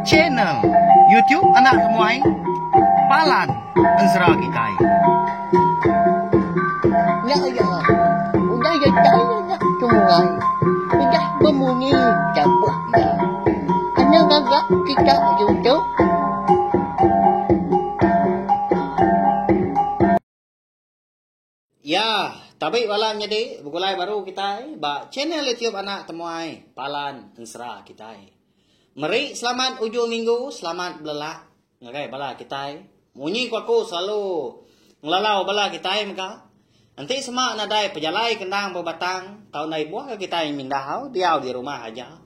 Channel YouTube Anak Temuai Palan Enzra Kitai. Nya iya. Udah ya tahu nak tungai. Udah bemunyi dapat ya. Anak gagak kita YouTube. Iya, tabi bala nyadi begulai baru kitai ba channel YouTube anak temuai Palan Ensera kitai. Meri selamat ujung minggu, selamat belelak ngagai bala kitai. Munyi ku aku selalu ngelalau bala kitai mega. Enti sema nadai pejalai kendang bebatang tau ndai buah ke kitai mindau diau di rumah aja.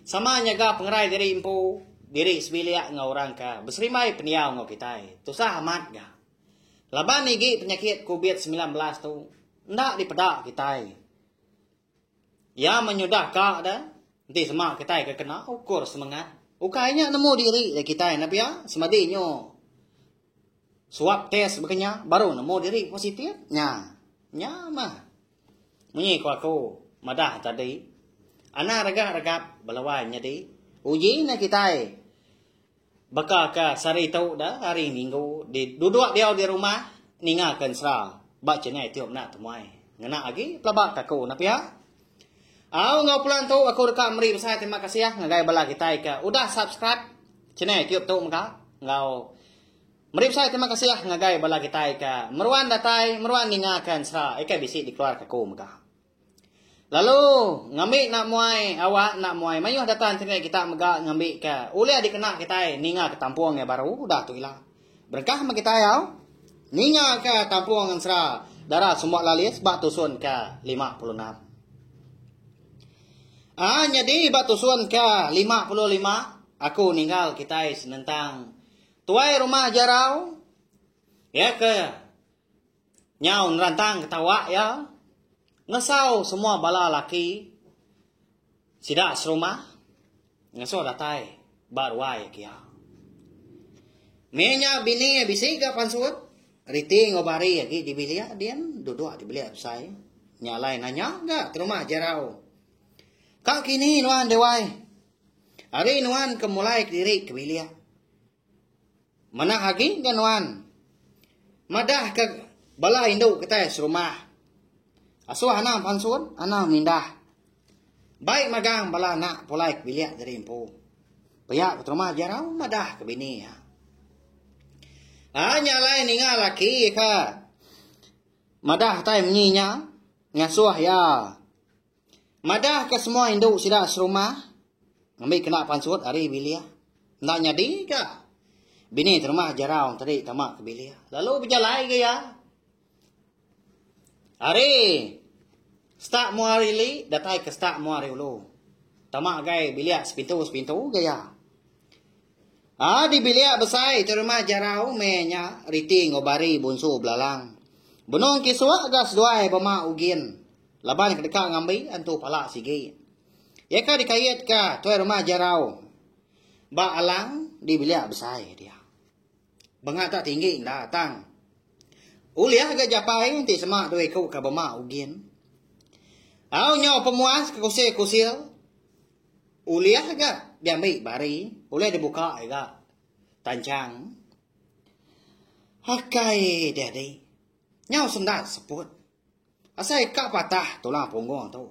Sama nyaga pengerai diri empu, diri sebilik enggau orang ke beserimbai pendiau enggau kitai. Tusah amat ga. Laban nigi penyakit Covid semilan belas tu enda dipeda kitai. Iya menyudahka da enti sema kitai ke kena ukur semengat. Ukai nya nemu diri da kitai enda pia semadi nyu swab test baka nya baru nemu diri positif nya. Nya mah. Munyi ku aku madah tadi anang regap-regap bala wai nyadi uji nya kitai Baka ke sehari tu da hari minggu di duduk diau di rumah ninga ke ensera ba chennai tu meda temuai ngena agi pelaba ke aku enda pia. Au enggau pelan tu aku deka meri besai terima kasih ngagai bala kitai ke udah subscribe chennai tu tu mega enggau meri besai terima kasih ngagai bala kitai ke meruan datai meruan ninga ke ensera ika bisi dikeluarka aku mega. Lalu ngambi enda muai awak enda muai mayuh data internet kita mega ngambi ke ulih dikena kitai ninga ke tampung yang baru udah tu ila. Berengkah meh kitai au ninga ke tampung ensera dara sumba lalis ba tusun ke 56. Ah nyadi ba tusun ke 55 aku ninggal kitai senentang tuai rumah jarau ya ke Nyau nerantang ketawa iya ngesau semua bala laki sida serumah ngasuh datai ba ruai ke iya. Meh nya bini iya bisi ga pansut, riti enggau bari agi di bilik din duduk di bilik besai. Nya alai nanya ga terumah jerau. Ka kini nuan dewai? Ari nuan ke mulai kediri ke bilik? Manah agi ga nuan madah ka bala indu kitai serumah. Asuh anang pansun, anang mindah. Bai magang bala anak pulai ke bilik nyadi empu. Pia ke terumah Jerau madah ke bini iya. Anya alai ninga laki ka madah kitai menyi nya ngasuh iya Madahka semua indu sida serumah ngambi kena pansut ari bilik. Enda nyadi ka bini terumah jarau tadi tama ke bilik. Lalu bejalai ga iya. Ari stak mua ari li datai ke stak mua ari ulu. Tama gai bilik sepintu-sepintu ga iya. Ah di bilik besai ti rumah Jarau meh nya riti enggau Bari bunsu belalang. Benung kisuk ga seduai bema Ugin laban ke deka ngambi antu pala sigi. Iya ka dikait ka tuai rumah Jarau ba alang di bilik besai dia. Bengah tak tinggi enda tang. Ulih ga japai enti sema dua iku ka bema Ugin. Au nyau pemuas ke kusir-kusir. Ulih aja diambi bari, ulih dibuka aja tanchang. Akai diadi. Nyau sendat seput. Asai ka patah tulang punggung tu.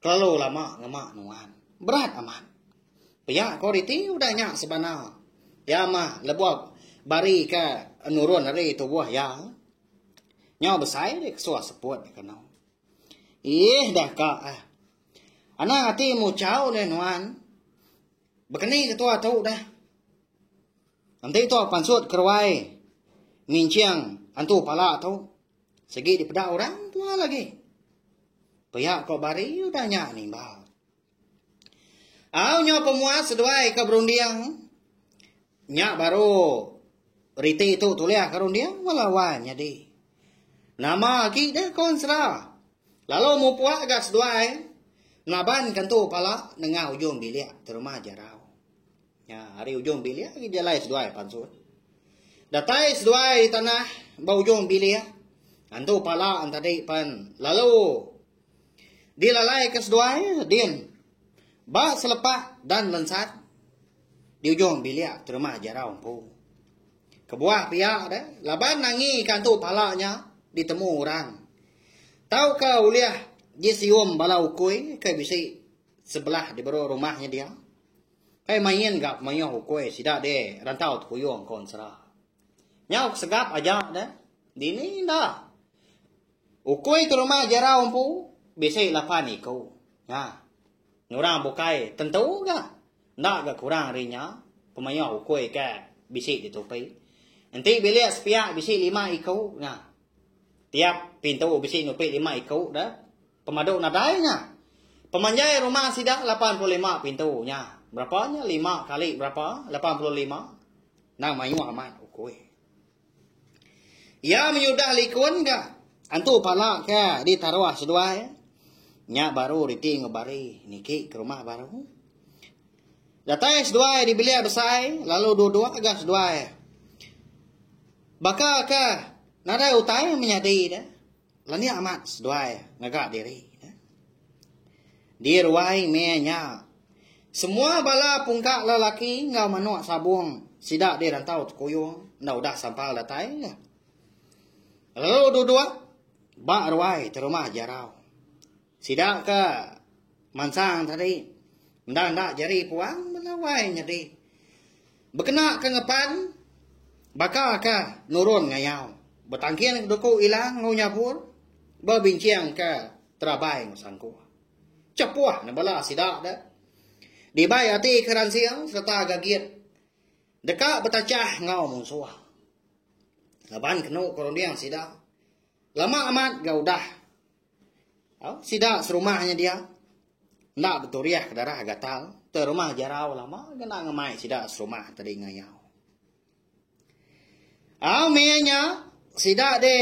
Kelalu lama ngema nuan. Berat amat. Pia ko riti udah nya sebana. Ya mah lebuh bari ka nurun ari tubuh ya. Nyau besai ri kesuah seput kanu. Ih dah ka ah. Anang ati muchau ulih nuan. Bekeni ke tua tu dah. Enti tua pansut keruai nginching antu pala tu segi dipeda orang tua lagi. Pia ko bari udah nya nimbal. Au nyo pemuas seduai ke berunding. Nya baru riti tu tulis ke runding bala wan nyadi. Nama agi deh kon sera. Lalu mupuk ga seduai ngaban ke tu pala nengah ujung bilik terma jarau. Nya hari ujung bilik agi jalai seduai pansut. Datai seduai di tanah ba ujung bilik. Antu pala tadi pan lalu dilalai ke seduai din ba selepak dan lensat. Di ujung bilik terumah Jarau empu. Kebuah pia deh, laban nangi ikan tu pala nya ditemu orang. Tauka ulih di sium bala ukui ke bisi sebelah di baru rumah nya dia. Kai main ga pemayuh ukui sida di rantau Tepuyung Kon Sera. Nyau kesegap aja deh. Dini enda. Ukui ke rumah Jarau empu bisi lapan iku. Ha. Ngurang bukai tentu ga. Enda ga kurang ari nya, pemayuh ukui ke bisi di tupi. Enti bilik sepiak bisi lima iku nya. Tiap pintu bisi nupi lima iku dah. Pemadu nadai nya. Pemanjai rumah sida lapan puluh lima pintu nya. Berapa nya lima kali berapa lapan puluh lima. Nang mayuh amat ukui. Iya menyudah likun ga. Antu pala ke di taruh seduai. Nya baru riti ngebari niki ke rumah baru. Datai seduai di bilik besai lalu dua-dua ga seduai. Baka ke nadai utai menyadi de. Lani amat seduai ngaga diri. Di ruai meh nya, semua bala pungka lelaki enggau manuk sabung sida di Rantau Tekuyung enda udah sampal datai. Lalu duduk ba ruai terumah Jarau. Sida ke mansang tadi enda enda jari puang melawai nyadi. Bekena ke ngepan baka ke nurun ngayau betangking beduku ila enggau nyabur bebincang ke terabai enggau sangkuh. Cepuh ne bala sida de dibai ati ke ransing sereta gagit deka betachah enggau munsuh. Laban kenu ke runding sida lama amat ga udah Au, sida serumah nya dia. Enda beturiah ke darah gatal. Te rumah jarau lama kena ngemai sida serumah tadi ngayau. Au, meh nya, sida de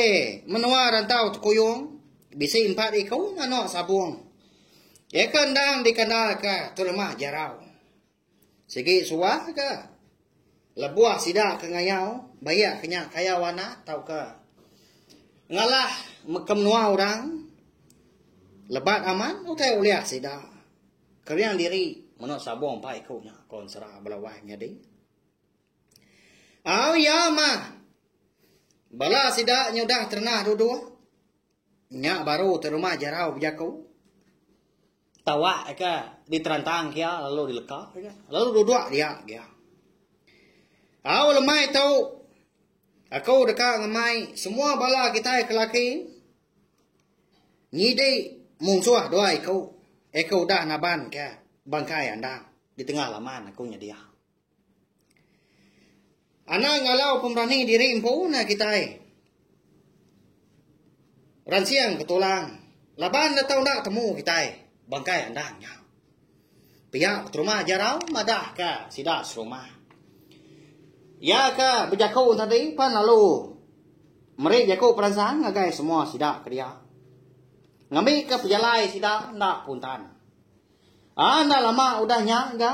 menua rantau tekuyung. Bisi empat iku anak sabung. Eka endang dikandalka te rumah jarau. Sigi suah ke lebuh sida ke ngayau bayak ke nya kayau anak tauka ngalah ke menua orang lebat aman utai ulih sida kering diri meno sabong empat iku nya kon sera belawai nyadi au ya ma bala sida nyudah terenah duduk nya baru terima jarau bejaku Tawak eka diterantang kia lalu dileka eka. Lalu duduk dia kia. Au lemai tu. Aku deka ngemai semua bala kita kelaki nyidi munsuh dua iku. Aku udah naban kia bangkai andang di tengah laman aku nyedia. Ana ngalau pemberani diri empu nah kitai. Ransing betulang laban deka enda temu kitai bangkai endang nya. Pia peterima Jarau madahka sida serumah. Iya ke bejaku tadi pan lalu meri jaku peransang ngagai semua sida ke dia. Ngambika pejalai sida enda puntan. Ah enda lama udah nya ga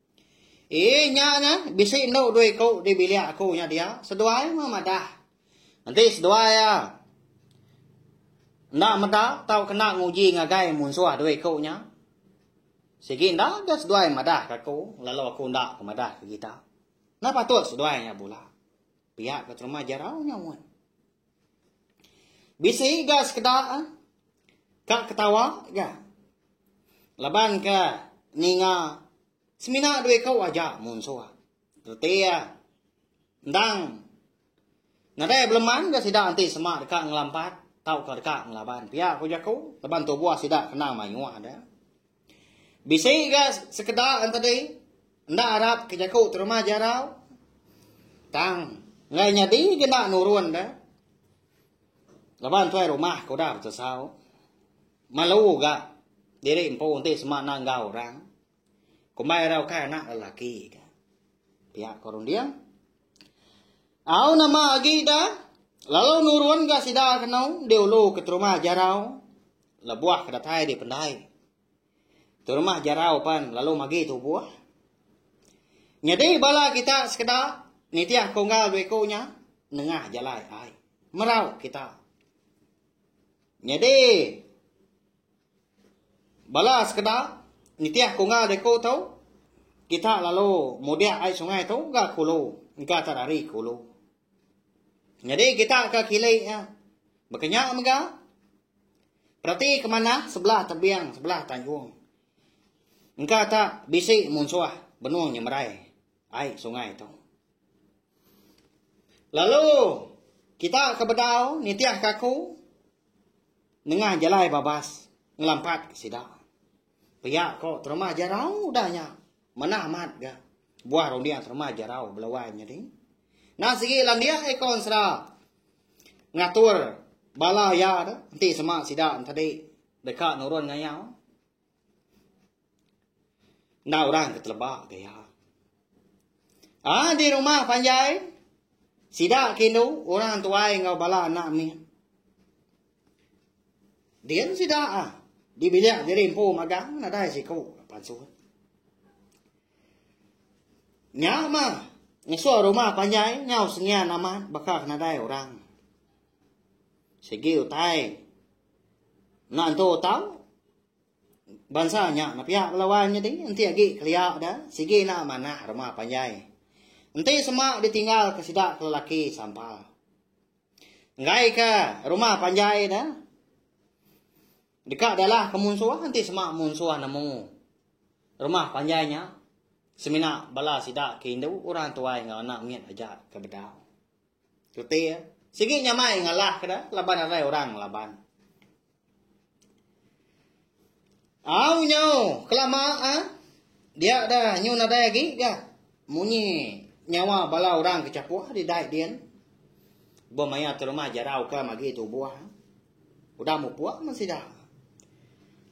Ii nya nya bisi endu dua iku di bilik aku nya dia seduai meh madah. Enti seduai iya enda meda tau kena nguji ngagai munsuh dua iku nya. Sigi enda ga seduai madah ke aku lalu aku enda ke madah ke kita. Enda patut seduai nya bula. Pia ke terma jarau nya mun. Bisi ga sekeda ka ketawa ga laban ka ninga semina dua iku aja munsuh reti iya endang nadai beleman ga sida enti sema deka ngelampat tauka deka ngelaban pia ku jaku laban tubuh sida kena mayuh da. Bisi ga sekeda entedi enda arap ke jaku terumah jarau tang enggai nyadi agi enda nurun da. Laban tuai rumah ke udah betesau malu ga diri empu enti sema enda enggau orang. Kombai ira ukai anak lelaki ka. Pia ko runding. Au nama agi ida lalu nurun ga sida kenu diulu ke terumah jarau lebuh ke datai dipendai. Terumah jarau pan lalu magi tubuh. Nyadi bala kita sekeda nitih kunggal dua iku nya nengah jalai ai. Merau kita. Nyadi Bala sekeda nitih ku enggau diku tu, kita lalu mudik ai sungai tu ga ke ulu, engka tak dari ke ulu. Nyadi kita ke kili iya. Baka nya mega, perati ke manah sebelah tebing, sebelah tanjung. Engka tak bisi munsuh benung nyemerai. Ai sungai tu. Lalu kita ke bedau nitih kaku nengah jalai babas ngelampat ke sida. Pia ko terumah jarau dah nya. Manah amat ga. Buah runding terumah jarau belawan nya ding. Nah sigi landia ikon sera ngatur bala ya tu enti sema sida tadi deka nurun ngayau. Enda orang ke teleba ke iya. Ah di rumah panjai sida ke indu orang tuai enggau bala anak mih. Dia sida ah di bilik diri empu magang nadai siku pansut. Nya mah ngesu rumah panjai nyau sengian amat baka nadai orang. Segi utai Enda entu tau. Bansa nya nepiak bala wan nyadi enti agi kelia da sigi enda manah rumah panjai. Enti sema ditinggal ke sida ke lelaki sampal. Enggai ke rumah panjai da deka dalah ke munsuh enti sema munsuh nemu rumah panjai nya semina bala sida ke indu orang tuai enggau anak mit aja ke bedau. Reti iya. Sigi nyamai ngalah ke da laban arai orang ngelaban. Au nyau kelama ah. Dia dah nyu nadai lagi ga. Munyi nyawa bala orang ke capuh di dai din. Bo maya tu rumah jarau ke magi tu buah. Ah. Udah mupuak man sida.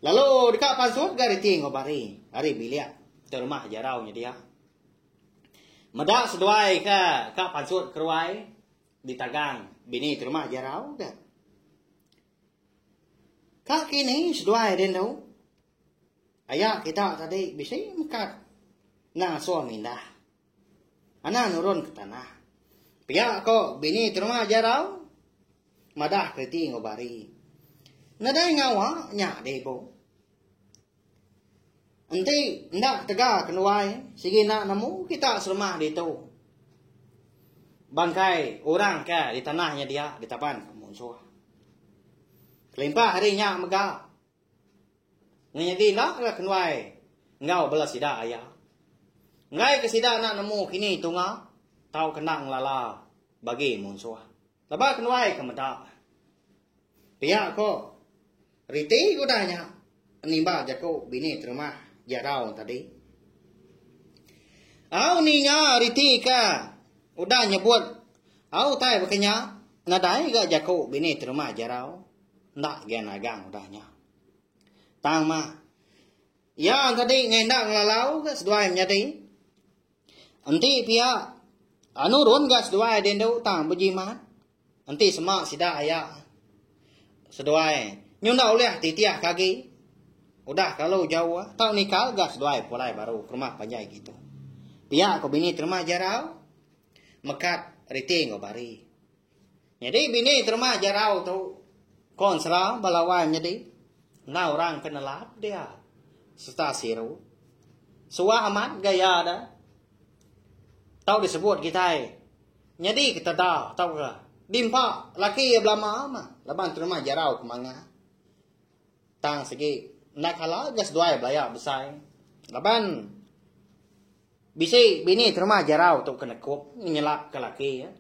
Lalu dekat pansut ga reti ngobari. Hari bilik tu rumah jarau nya dia. Meda seduai ke ka pansut keruai ditagang bini terima jarau ke. Ka kini seduai din tu aya kita tadi bisi mekat nang suah mindah. Anang nurun ke tanah. Pia ko bini terima jarau madah kereti enggau bari. Nadai ngawa nya deh ibu. Enti enda ketega ke nuai sigi enda nemu kita serumah ditu. Bangkai orang ke di tanah nya dia ditaban ke munsuh. Kelimpah hari nya mega ngenyadi enda ke kenuai enggau bala sida aya. Enggai ke sida enda nemu kini tunga tauka enda ngelala bagi munsuh. Laba ke nuai ke meda. Pia ko riti ke udah nya nimba jaku bini terumah jarau tadi. Au ninga riti ke udah nyebut au tai bakanya nadai ga jaku bini terumah jarau. Nda gen agang udah nya. Tang ma. Ya tadi ngendak lalau ke seduai menyadi. Enti pia anu run ga seduai di endu tang bejimat. Enti sema sida aya seduai nyu enda ulih titih ke agi. Udah kalu jau tau nikal ga seduai pulai baru ke rumah panjai kitu. Pia ko bini terma jarau mekat riti enggau bari. Nyadi bini terma jarau tu kon sera ba lawan nyadi enggau orang ke nelap dia serta siru. Suah amat gaya da. Tau disebut kitai nyadi keteda tau ke dimpa laki iya belama ma laban terma jarau ke manga. Tang segi enda kala ga seduai belaya besai. Laban bisi bini terma jarau tu ke nekup nyelapka laki iya.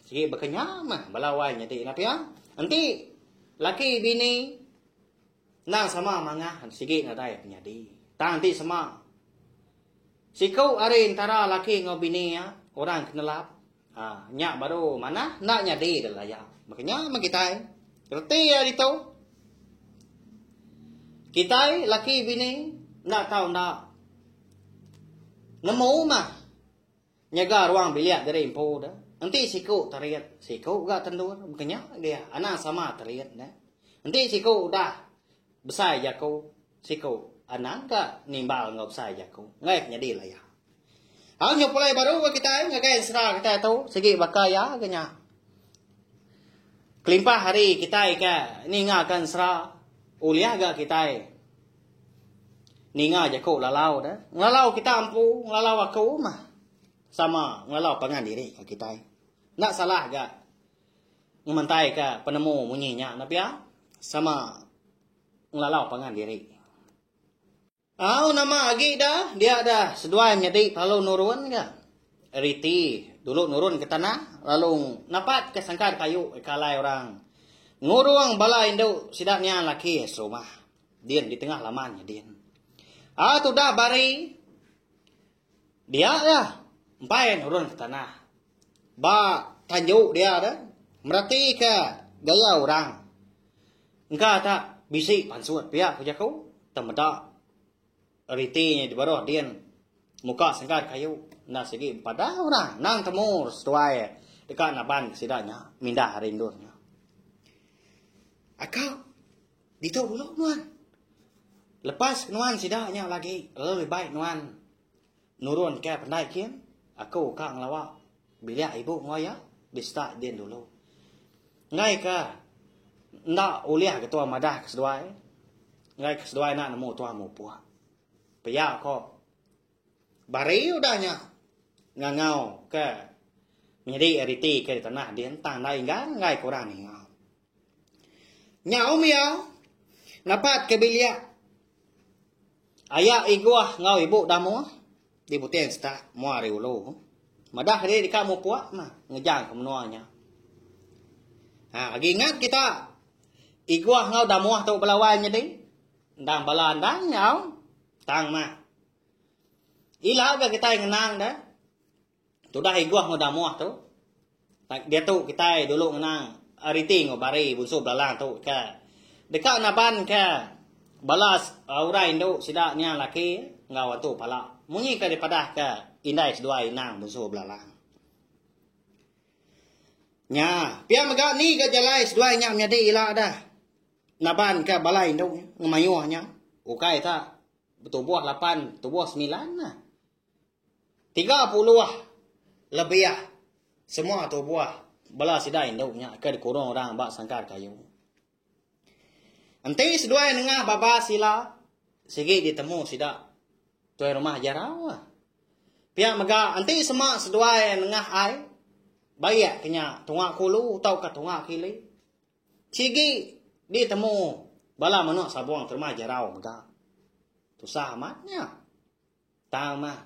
Sigi baka nya meh bala wai nya ti nah pia. Enti laki bini endang sama mangah sigi nadai penyadi. Tang enti sema siku ari entara laki enggau bini iya orang ke nelap ha nya baru manah enda nyadi deh laya. Baka nya meh kitai. Reti iya ditu kitai laki bini enda tau enda nemu mah Nyaga ruang bilik diri empu da. Enti siku terit, siku ga tendur. Bekenya dia anang sama terit ne. Enti siku udah besai jaku, siku anang ga nimbal enggau besai jaku. Enggai ke nyadi laya. Au nyepulai baru ga kitai ngagai ensera kitai tu sigi baka iya ga nya. Kelimpah hari kitai ke ninga ka ensera ulih ga kitai. Ninga jaku lalau da. Ngelalau kita empu, ngelalau aku mah sama ngelalau pangan diri ka kitai. Enda salah ga ngementai ka penemu munyi nya na pia sama ngelalau pangan diri. Au nama agi da, dia da seduai menyadi lalu nurun ga. Riti dulu nurun ke tanah lalu napat ke sangkar kayu ke alai orang. Ngurung bala indu sida nian laki serumah. Din di tengah laman nya din. Ah tudah bari. Dia ya. Empai nurun ke tanah. Ba tanju dia dah. Merati ke gaya orang. Engka tak bisi pansut pia ku jaku. Temeda riti nya di baruh din. Muka sengkar kayu. Nah sigi pada orang. Nang temur setuai. Deka naban ke sida nya. Mindah hari indur nya. Akak Ditu dulu nuan. Lepas nuan sida nya lagi lebih baik nuan nurun ke pendai kin aku ka ngelawa bilik ibu enggau iya di start din dulu. Enggai ke enda ulih ke tuan madah ke seduai. Enggai ke seduai enda nemu tuan mupuk. Pia ko bari udah nya ngangau ke menyedi riti ke di tanah din tang enda inggang enggai ke orang ninga. Nyau Mia napat ke bilik aya Igoh enggau ibu Damoh di Buting Setak, mua ari ulu. Madah diri deka mupuk mah ngejang ke menua nya. Ha, agi ingat kita Igoh enggau Damoh tu belawan nyadi. Endang bala endang nyau tang mah. Ila ke kita ngenang dah. Tudah Igoh enggau Damoh tu. Diatu kitai dulu ngenang Ariti enggau Bari bunsu belalang tu ke. Deka naban ke bala uh, orang indu sida nya laki enggau atu pala. Munyi ke dipadah ke indai seduai inang bunsu belalang. Nya, pia mega ni ke jalai seduai nya menyadi ila dah. Naban ke bala indu ngemayuh nya. Ukai ta betubuh lapan, tubuh sembilan lah. Tiga puluh lebih semua tubuh bala sida indu nya ke dikurung orang ba sangkar kayu. Enti seduai nengah baba sila, sigi ditemu sida tuai rumah jarau. Pia mega enti sema seduai nengah ai, baik kenya tunga kulu tauka tunga kili, sigi ditemu bala menua sabung ke rumah jarau mega. Tusah amat nya. Tang mah.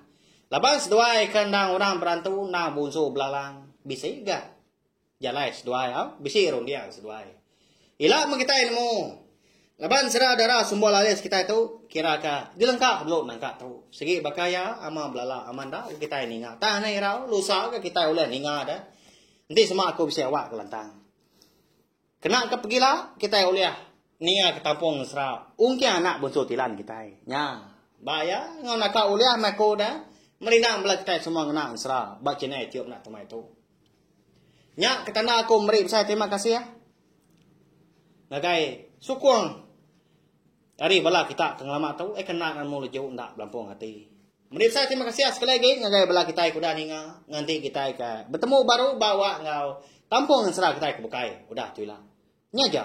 Laban seduai ke endang orang berantu endang bunsu belalang. Bisi ga. Jalai seduai au. Bisi runding seduai. Ila meh kitai nemu. Laban sera dara sumber lalis kitai tu kira ka dilengka belu nangka tu. Segi baka ya ama belalang ama enda ke kitai ninga. Tang nih irau lusa ke kitai ulih ninga da. Enti sema aku bisi awak kelantang. Kena ke pegila, kitai ulih ninga ke tampung mesra ungking anak bunsu tilan kitai. Nya, ba iya enggau naka ulih mai ku udah merindang bela kitai semua ngena mesra ba channel YouTube enda temai tu. Nya ke tanda aku meri besai terima kasih. Ngagai sukung Ari bala kita ke ngelama tu ai kena ngan mu leju enda belampung ati. Meri besai terima kasih sekali lagi ngagai bala kitai ke udah ninga nganti kitai ke betemu baru ba awak enggau kampung nensera kitai ke bukai udah tu ila. Nya aja.